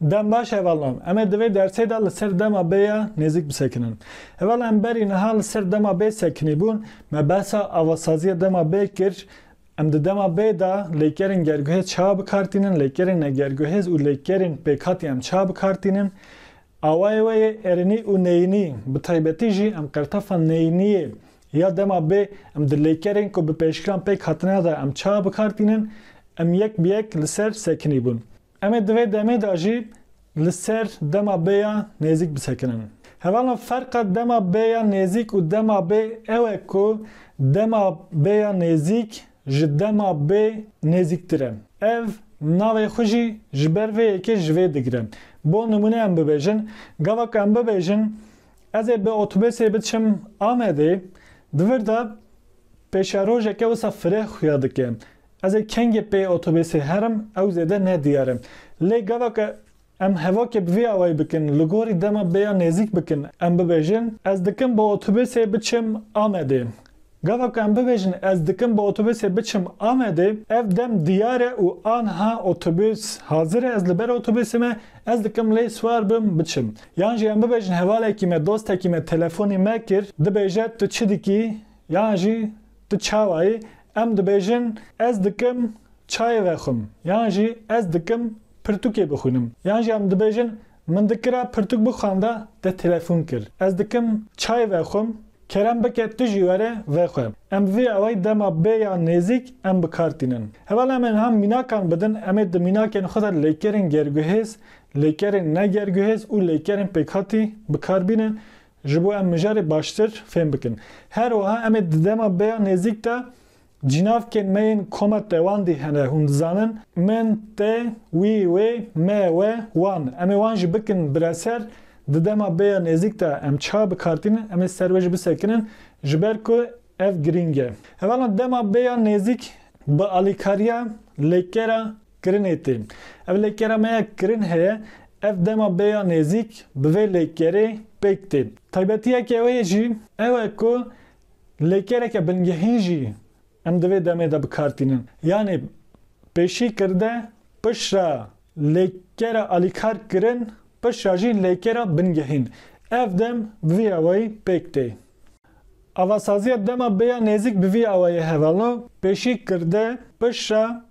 Dem baş hevalan. Em ê divê dersê de li ser dema B ya nêzik bisekinin. Heval em berî niha li ser dema B sekinî bûn, me behsa avasaziya dema B kir. Em di dema B de lêkerên gerguhêz çawa bikartînin, lêkerên negerguhêz û lêkerên pêkhatî em çawa bikartînin. Awayê we yê erinî û neyînî, bi taybetî jî em qertefa neyîniyê Ya dema bê em di lêkerên ku bi pêşkiran pêk hatine de em çawa bi kar tînin, em yek bi yek li ser sekinî bûn. Em ê di vê demê de jî li ser dema bê ya nêzîk bisekinin. Hevala ferqa dema bê ya nêzîk û dema bê ew e ku dema bê ya nêzîk ji dema bê nêzîktir e. Ev navê xwe jî ji ber vê yekê ji vê digire. Bo nimûne em bibêjin, gava ku em bibêjin, Ez ê bi otobusê biçim Amedê, di vir de pêşerojeke wisa fireh xuya dike. Ez ê kengê pê otobusê herim, ew zêde ne diyar e. Lê gaveke em hevokê bi vî awayî bikin, li gorî dema bêya nêzîk bikin, em bibêjin, Ez dikim bi otobusê biçim Amedê. Gava ku em bibêjin ez dikim bi otobusê biçim Amedê, ev dem diyar e û anha otobus hazir e, ez li ber otobusê me, ez dikim lê siwar bim biçim. Yan jî em bibêjin hevalekî me, dostekî me telefonî me kir, dibêje tu çi dikî yan jî tu çawa yî, em dibêjin ez dikim çayê vexwim yan jî ez dikim pirtûkê bixwînim yan jî em dibêjin Min dikira pirtûk bixwanda te telefon kir. Ez dikim çay vexwim, kerem bike tu jî were vexwe. Em bi vî awayî dema bê ya nêzîk em bi kar tînin. Heval em ê niha mînakan bidin, em ê di mînakên xwe de lêkerên gerguhêz, lêkerên ne gerguhêz û lêkerên pêkhatî bi kar bînin ji bo em mijarê baştir fêm bikin. Her wiha em ê di dema bê ya nêzîk de Cinavkên me yên koma tewandî hene, hûn dizanin, min, te, wî, wê, me, we, wan. Em ê wan jî bikin bireser, di dema bêya nêzîk de em çawa bikartînin, em ê ser wê jî bisekinin, ji ber ku ev girîng e. Hevalan dema bêya nêzîk bi alîkariya lêkera kirinê tê. Ev lêkera me ya kirin heye, ev dema bêya nêzîk bi vê lêkerê pêk tê. Taybetiyeke wê jî ew e ku Lêkereke bingehîn jî em di vê demê de bi kar tînin. Yanê pêşî kirde pişra lêkera alîkar kirin pişra jî lêkera bingehîn. Ev dem bi vî awayî pêk tê. Avasaziya dema bêya nêzîk bi vî awayî hevalno, pêşî kirde pişra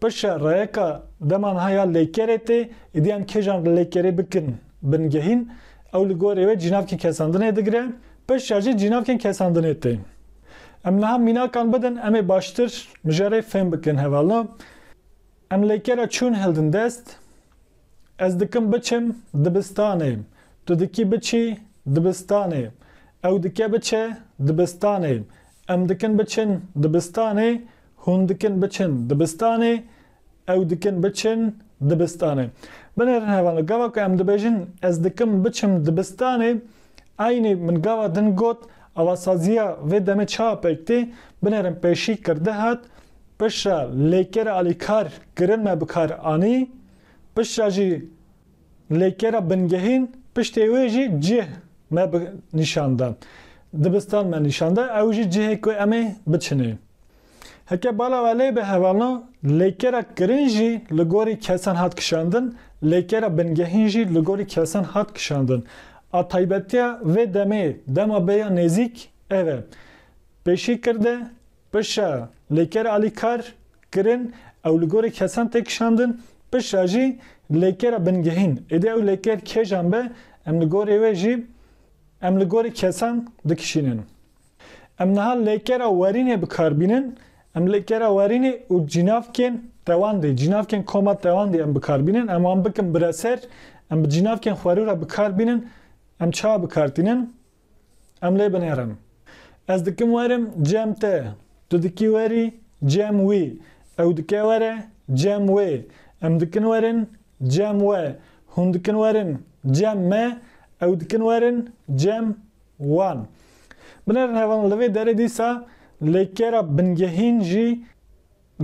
Pişe reyeka deman ha ya lêkerê tê, êdî em kêjan li lêkerê bikin bingehîn, ew li gorî wê cînavkên kesandinê digire, pişe jî cînavkên kesandinê tê. Em niha mînakan bidin em ê baştir mijarê fêm bikin hevalna. Em lêkera çûn hildin dest, Ez dikim biçim dibistanê, tu dikî biçî dibistanê, ew dike biçe dibistanê, em dikin biçin dibistanê, Hûn dikin biçin dibistanê, ew dikin biçin dibistanê. Binêrin hevan li gava ku em dibêjin ez dikim biçim dibistanê, eynî min gava din got avasaziya vê demê çawa pêk tê, binêrin pêşî kirdi hat, piştre lêker alîkar kirin me bikar anî, piştre jî. Lêkera bingehîn piştê wê jî cih me bi nîşan da. Dibistan me nîşan da, ew jî cihê ku em ê biçinê. Heke bala we lê be hevalno, lêkera kirin jî li gorî kesan hat kişandin, lêkera bingehîn jî li gorî kesan hat kişandin. A taybetiya vê demê, dema bêya nêzîk ev e. Pêşî kirde. Pişa lê ker alî kar kirin ew li gorî kesan tê kişandin, pişa jî lê kera bingehîn. Êdî ew lê ker kêjan be em li gorî wê jî em li gorî kesan dikişînin. Em niha lê kera werînê bi kar bînin, em lê kera werînê û cînavkên tewandê, cînavkên koma tewandê em bi kar bînin, em wan bikin bireser, em bi cînavkên xwerû re bi kar bînin, em çawa bi kar tînin? Em lê binêrin. Ez dikim werim cem te, tu dikî werî cem wî, ew dike were cem wê, em dikin werin cem we, hûn dikin werin cem me, ew dikin werin cem wan. Binêrin hevalin li vê derê dîsa lêkera bingehîn jî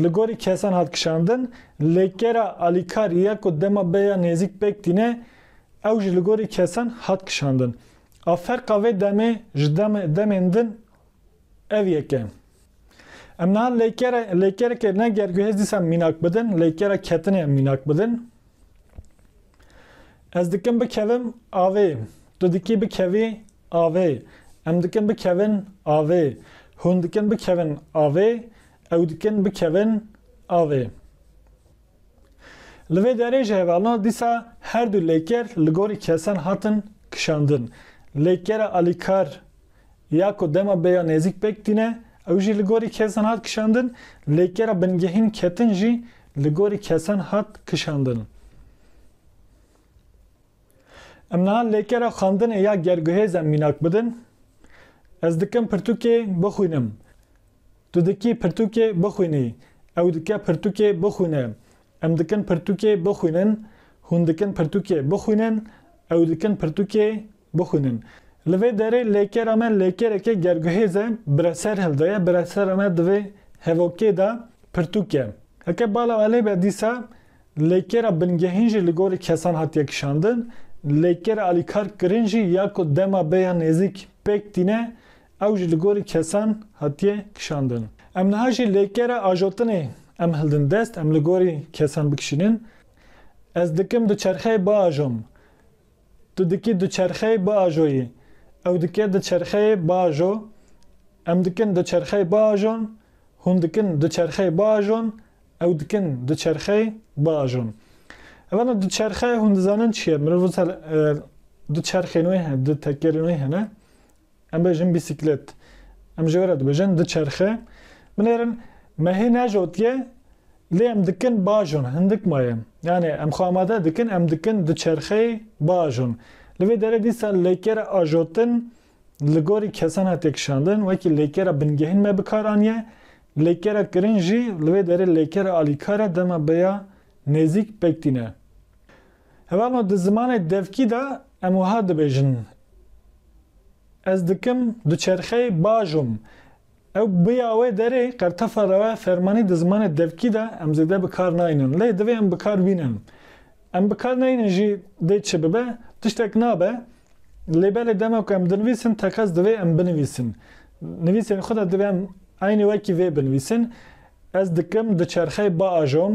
Li gorî kesan hat kişandin, lê kera alîkar ya ku dema beya nêzîk pêk tîne, ew jî li gorî kesan hat kişandin. A ferqa vê demê ji demên din ev yek e. Em niha lêkere lêkerekê ne gerguhêz dîsa mînak bidin, lêkera ketinê mînak bidin. Ez dikim bikevim avê, tu dikî bikevî avê, em dikin bikevin avê, hûn dikin bikevin avê, Ew dikin bikevin avê. Li vê derê ji hevalna dîsa her du lêker li gorî kesan hatin kişandin. Lêkera alîkar ya ku dema bêya nêzîk pêk tîne ew jî li gorî kesan hat kişandin, lêkera bingehîn ketin jî li gorî kesan hat kişandin. Em niha lêkera xwendinê ya gerguhêze mînak bidin. Ez dikim pirtûkê bixwînim. Tu dikî pirtûkê bixwînî, ew dike pirtûkê bixwîne, em dikin pirtûkê bixwînin, hûn dikin pirtûkê bixwînin, ew dikin pirtûkê bixwînin. Li vê derê lêkera me lêkerekê gerguhêz e, bire ser hilde ye, bire sera me di vê hevokê de pirtûk e. Heke bala alê be dîsa lêkera bingehîn jî li gorî kesan hatiye kişandin, lêkera alîkarkirin jî ya ku dema bê ya nêzîk pêk tîne Ew jî li gorî kesan hatiye kişandin. Em niha jî lêkere ajotinê em hildin dest, em li gorî kesan bikişînin. Ez dikim du çerxeyê biajom. Tu dikî du çerxeyê biajoyî. Ew dike du çerxeyê biajo. Em dikin du çerxeyê biajon. Hûn dikin du çerxeyê biajon. Ew dikin du çerxeyê biajon. Evana du çerxe hûn dizanin çi ye? Mirov wisa du çerxên wê hene, du tekerên wê hene. Em bêjin bîsîklet. Em ji we re dibêjin diçerxe. Binêrin me hê nejotiye lê em dikin bajon hindik maye. Yanê em xwe amade dikin em dikin diçerxeyê bajon. Li vê derê dîsa lêkera ajotin li gorî kesan hatiye kişandin. Wekî lêkera bingehîn me bi kar aniye. Lêkera kirin jî li vê derê lêkera alîkar e dema bi ya nêzîk pek tîn e. Hevano di zimanê devkî de em wiha dibêjin, Ez dikim duçerxeyê bajom. Ew biya wê derê qertefa rewe fermanî di zimanê devkî de em zêde bi kar nayînin. Lê divê em bi kar bînin. Em bi kar neyînin jî dê çi bibe? Tiştek nabe. Lê belê dema ku em dinivîsin teqez divê em binivîsin. Nivîsên xwe de divê em eynî wekî vê binivîsin, Ez dikim duçerxeyê bajom.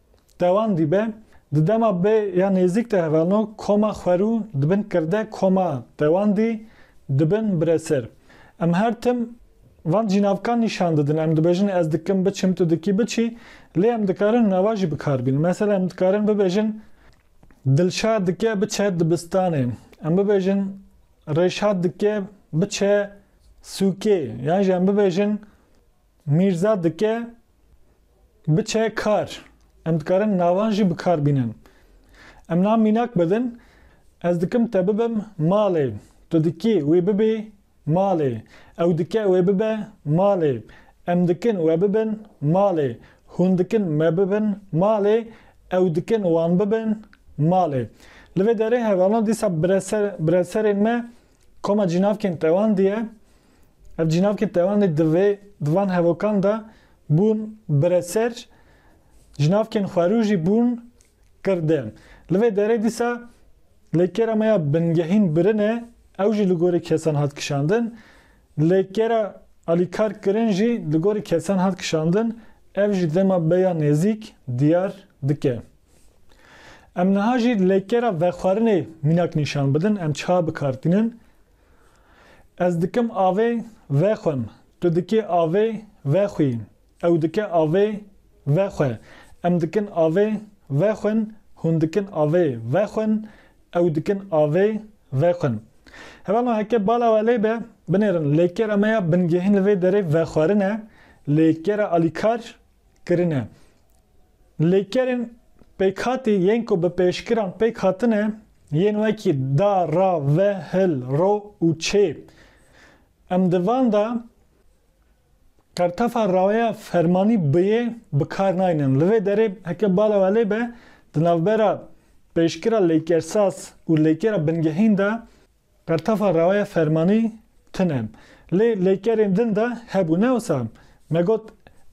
Dewan dîbe, di dema bê ya nêzîk de hevano koma xwerû dibin kirde koma dewan dî dibin bireser. Em her tim van cînavkan nîşan didin, em dibêjin ez dikim biçim tu dikî biçî, lê em dikarin nava jî bikar bînin. Mesela em dikarin bibêjin Dilşad dike biçe dibistanê, em bibêjin Rêşad dike biçe sûkê yan jî em bibêjin Mîrza dike biçe kar. Em dikarin navan jî bi kar bînin. Em na mînak bidin, Ez dikim te bibim malê. Tu dikî wê bibî malê. Ew dike wê bibe malê. Em dikin we bibin malê. Hûn dikin me bibin malê. Ew dikin wan bibin malê. Li vê derê hevalan dîsa bireserên me Koma cînavkên tewandî ye. Ev cînavkên tewandî divê di van hevokan de bûn bireser, cînavkên xwerû jî bûn kirde. Li vê derê dîsa lê kêra me ya bingehîn birin e, ew jî li gorî kesan hat kişandin. Lê kêra alîkar kirin jî li gorî kesan hat kişandin, ev jî dema beya nêzîk diyar dike. Em niha jî lêkera vexwarinê mînak nîşan bidin, em çiha bikar tînin? Ez dikim avê vexwim, tu dikê avê vexwî, ew dike avê vexwe, em dikin avê vexwin, hûn dikin avê vexwin, ew dikin avê vexwin. Hevalno heke bala we lê be, binêrin lêkera me ya bingehîn li vê derê vexwarin e, lêkera alîkar kirine. Lêkerên pêkhatî yên ku bi pêşkiran pêk hatine yên wekî da, ra, ve, hil, ro û çê. Em di van de qertefa raweya fermanî biyê bi kar naynin. Li vê derê heke bala we lê be, di navbera pêşkira lêkersaz û lêkera bingehîn de Bertefa rewaya fermanî tin e. Lê lêkerên din de hebû ne wisa me got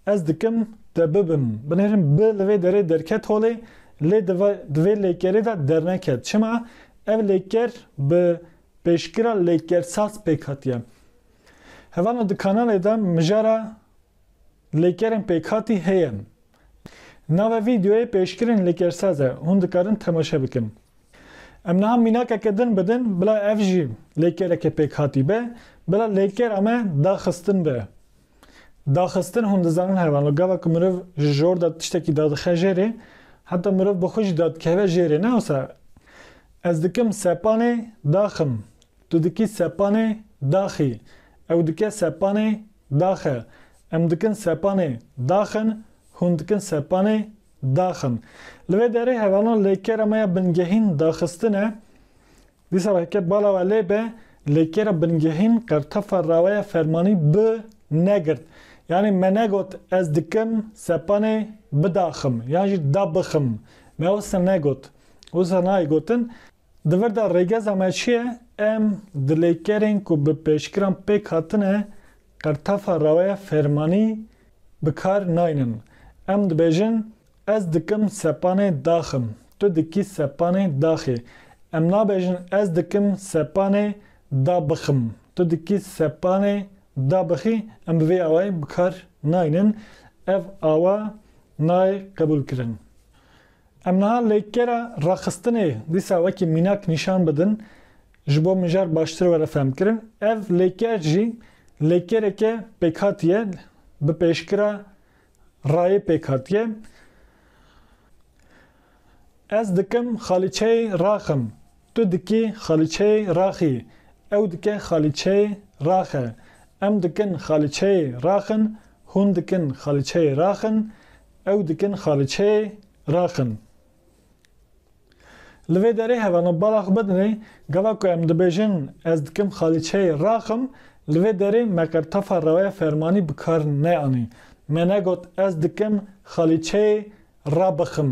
ez dikim te bibim binêrim bi li vê derê derket holê lê di di vê lêkerê de derneket çima ev lêker bi pêşkira lêkersaz pêk hatiye. Hevano di kanalê de mijara Lêkerên pêkhatî heye. Nava vîdeoyê pêşkirên lêkersaz e, hûn dikarin temaşe bikin. Em niha mînakeke din bi din bila ev jî lêkereke pêkhatî be, bila lêkera me daxistin be. Daxistin hûn dizanin heye wano, gava ku mirov ji jor de tiştekî dadixe jêrê, heta mirov bi xwe jî dadikeve jêrê. Ne wisa? Ez dikim sepanê daxim, tu dikî sepanê daxî, ew dike sepanê Daxe, em dikin sepanê, daxin, hûn dikin sepanê, daxin. Li vê derê hevalan lê kêra me ya bingehîn daxistine, dîsa re heke bala we lê be, lê kêra bingehîn qertefa raweya fermanî bi negirt. Yanî me negot ez dikim sepanê bidaxim yan jî dabixim. Me wisa negot. Wisa nayê gotin. Di vir de rêgeza me çi ye? Em dilêkerên ku bi pêşgiran pêk hatine qirtefa raweya fermanî bi kar naynin. Em dibêjin, Ez dikim sepanê daxim, tu dikî sepanê daxê. Em nabêjin ez dikim sepanê da bixim, tu dikî sepanê da bixî. Em bi vê awayî bi kar naynin. Ev awa nayê qebûlkirin. Em niha lêkera raxistinê dîsa wekî mînak nîşan bidin, ji bo mijar baştir were fehmkirin. Ev lêker jî lêkereke pêkhatî ye, bi pêşkira rayê pêkhatî ye. Ez dikim xalîçeyê raxim, tu dikî xalîçeyê raxî, ew dike xalîçeyê raxe, em dikin xalîçeyê raxin, hûn dikin xalîçeyê raxin, Ew dikin xaliçeyê raqin. Li vê derê hevana bala xwe bidinê, gava ku em dibêjin ez dikim xaliçeyê raqim, li vê derê me qertefa rewaya fermanî bi kar neanî. Me negot ez dikim xaliçeyê rabixim,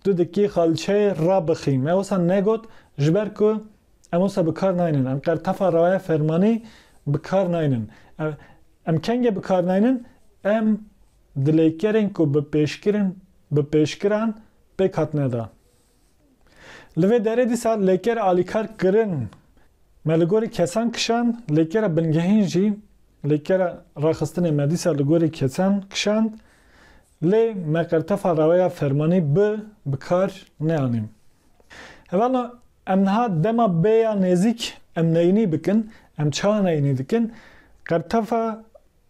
tu dikî xaliçeyê rabixî. Me wisa negot ji ber ku em wisa bi kar naynin. Em qertefa rewaya fermanî bi kar naynin. Em kengê bi kar naynin? Em. Dilêkerên ku bi pêşkirin bi pêşkiran pêk hatine dan. Li vê derê dîsa lêker alîkar kirin. Me li gorî kesan kişand, lêkera bingehîn jî lêkera raxistinê me dîsa li gorî kesan kişand. Lê me qertefa raweya fermanî bi bi kar neanî. Hevalna em niha dema bê ya nêzîk em neyînî bikin, em çawa neyînî dikin, qertefa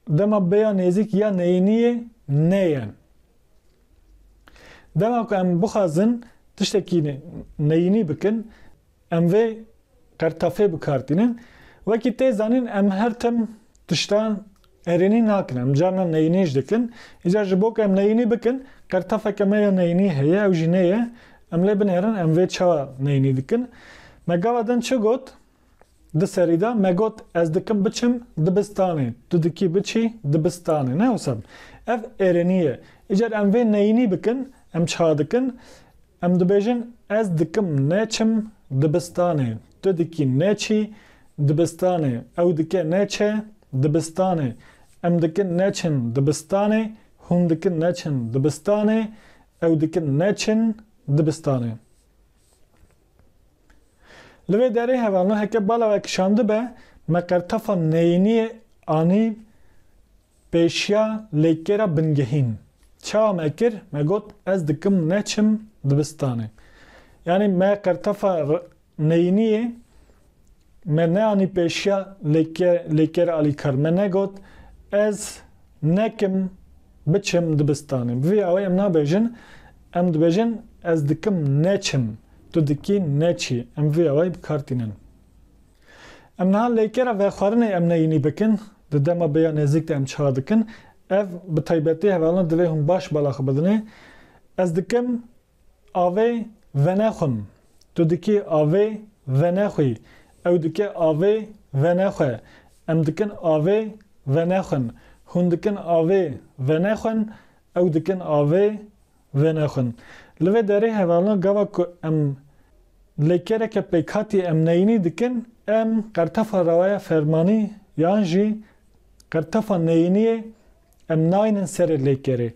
Dema bêya nêzîk ya neyîniyê neye. Dema ku em bixwazin tiştekî neyînî bikin, em vê qertafê bi kar tînin. Wekî tê zanîn em her tim tiştan erênî nakin. Em carna neyînî ji dikin. Îcar ji bo ku em neyînî bikin, qertafeke me ya neyînî heye, ew jî neye. Em lê binêrin em vê çawa neyînî dikin. Me gava din çi got? Di serî de me got ez dikim biçim dibistanê, tu dikî biçî dibistanê. Ne wisa bû. Ev êrenî ye. Îcar em vê neyînî bikin, em çiha dikin? Em dibêjin ez dikim neçim dibistanê, tu dikî neçî dibistanê, ew dike neçe dibistanê, em dikin neçin dibistanê, hûn dikin neçin dibistanê, ew dikin neçin dibistanê. Li vê derê hevalna heke bala we kişandibe, me qertefa neyîniyê anî pêşiya lêkêra bingehîn. Çawa me kir? Me got ez dikim neçim dibistanê. Yanî me qertefa neyîniyê Me neanî pêşiya Lêker Alîkar. Me negot ez nekim biçim dibistanê. Bi vî awayê em nabêjin, em dibêjin ez dikim neçim, tu dikî neçî. Em bi vî awayî bi kar tînin. Em niha lêkera vexwarinê em neyînî bikin, di dema bi ya nêzîk de em çar dikin. Ev bi taybetî hevalina divê hûn baş bala xwe bidinê. Ez dikim Avê venexwim, tu dikî avê venexwî, ew dike avê venexwe, em dikin avê venexwin, hûn dikin avê venexwin, ew dikin avê venexwin. Li vê derê hevalina gava ku em lê kêreke pêkhatî em neyînî dikin, em qertefa rawaya fermanî yan jî qertefa neyîniyê Em nayînin serê lêkerê.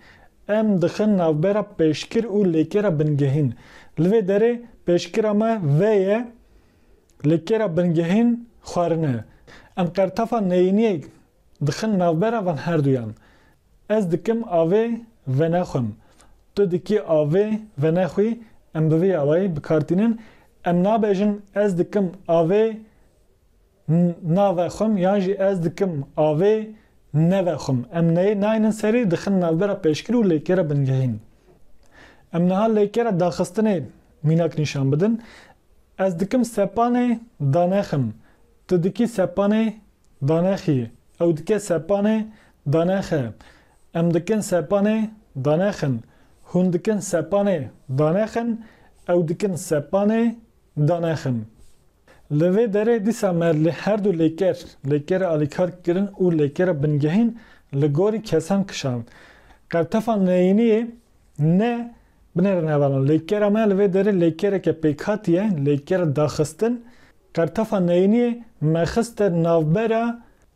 Em dixin navbera pêşkir û lêkera bingehîn. Li vê derê pêşkira me vê ye, lêkera bingehîn xwarine. Em qertefa neyîniyek dixin navbera van herduyan. Ez dikim avê venexwim, tu dikî avê venexwî, em bi vî awayî bi kar tînin. Em nabêjin ez dikim avê. Na vexwim yan jî ez dikim avê ne vexwim. Em neyê naynin serî dixin navbera pêşkir û lêkera bingehîn. Em niha lêkera daxistinê mînak nîşan bidin. Ez dikim sepanê danexim, tu dikî sepanê danexî, ew dike sepanê danexe, em dikin sepanê danexin, hûn dikin sepanê danexin, ew dikin sepanê Danexin. Li vê derê dîsa me li her du lêker, lêkera alîkar kirin û lêkera bingehîn li gorî kesan kişand. Qertefa neyîniyê ne binêrin hevalan. Lêkera me li vê derê lêkereke pêkhatî ye, lêkera daxistin. Qertefa neyîniyê me xiste navbera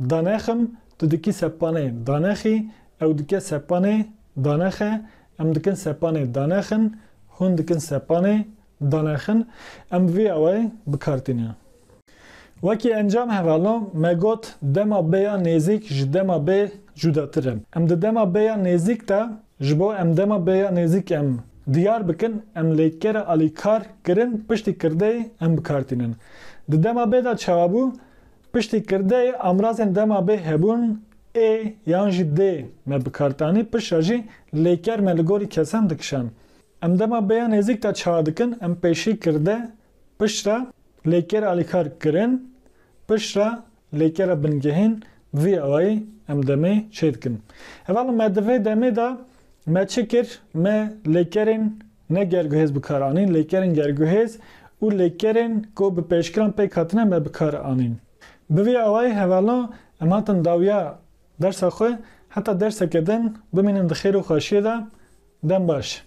Danexim, tu dikî sepanê, danexî, ew dike sepanê, danexe, em dikin sepanê, danexin, hûn dikin sepanê, danexin, em bi vî awayê bi kar tîne. Wekî encam hevalno, me got dema B ya nêzîk ji dema B cudatir e. Em di dema B ya nêzîk de, ji bo em dema B ya nêzîk em diyar bikin, em lêkera alîkar kirin piştî kirdeyê em bi kar tînin. Di dema B de çawa bû? Piştî kirdeyê amrazên dema bê hebûn ê yan jî dê me bikartanî, pişra jî lêker me li gorî kesan dikişan. Em dema bê ya nêzîk de çawa dikin? Em pêşî kirde, pişra, lêker alîkar kirin, pişra, lêkera bingehîn vî awayî em demê çêdikin. Heval me di vê demê de me çi kir? Me lêkerên Ne gerguhêz bi kar anîn, lêkerên gerguhêz û lêkerên ku bi pêşkiran pêk hatine me bi kar anîn. Bi vî awayî hevalan em hatin dawiya dersa xwe heta derseke din bimînin di xêr û xweşiyê de. Dem baş.